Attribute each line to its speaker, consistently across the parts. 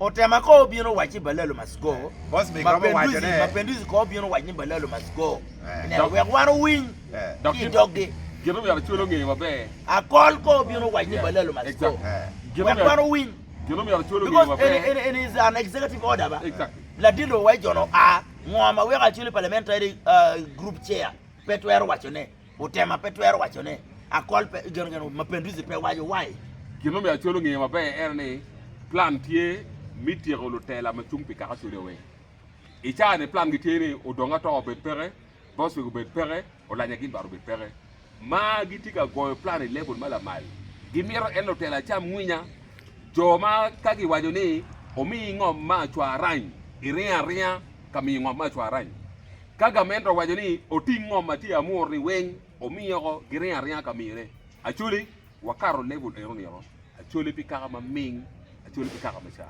Speaker 1: Otema ko
Speaker 2: obino wac ni balalo must go. Boss big romo waco ne.
Speaker 1: Mapenduzi ko obino wac ni
Speaker 2: balalo must go. Ineno wek wan owiny ki idog gi. Gin omyero acwel
Speaker 3: onge maber. Akol ko
Speaker 2: obino wac ni balalo must go. Wek wan owiny. Gin omyero
Speaker 3: acwel onge maber. Because in
Speaker 2: is an
Speaker 3: executive
Speaker 2: order ba. Exactly. Ladilo wa
Speaker 3: ijono
Speaker 2: a ngo ma weko acwel parliamentary group chair pe twero waco ne. Otema pe twero waco ne akol pe geno geno ma Penduzi pe waco wai. Gin ma myero Acol onge
Speaker 3: maber ene ni plan tye mi tyeko lutela ma cung pi kaka Code weng. I caa ni plan gi tye ni odong ato obed peke, Boswick obed peke, Olanya gin bad obed peke. Ma gi tye ka goyo plan i level ma lamal. Gi mito ene lutela acam nginya, jo ma ka gi waco ni omiyi ngom ma acwa arany, iringo aringa ka miyo ngom me acwara-ni. Ka gament owaco ni oting ngom ma tye amur-ni weng omiye oko, giringo aringa ka miyone. Actually, wakato level eno nino, actually pi kaka ma ming, actually pi kaka ma ca.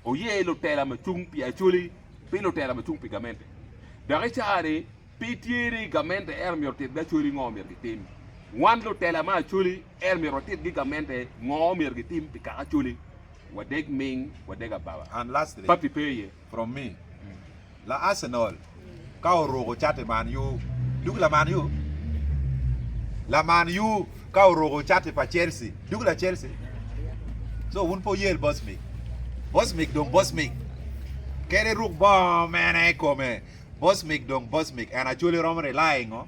Speaker 3: Oye lutela ma cung pi actually pi lutela ma cung pi gamente. Dok i caa-ni, pe tye ni gamente ento myero otitgi actually ngo myero gitim. Wan lutela ma actually ento myero watitgi gamente ngo myero gitim pi kaka actually wadeg ming, wadeg ababa. And lastly. Papi pe
Speaker 1: iye. From
Speaker 3: me,
Speaker 1: La Arsenal ka oruko cati Man U dok la Man U La Man U ka oruko cati pa Chelsea dok la Chelsea So wun pe wuyel Bosmic Bosmic dong Bosmic kadi ruk bongo mene i kome Bosmic dong Bosmic and actually romo rely i ngo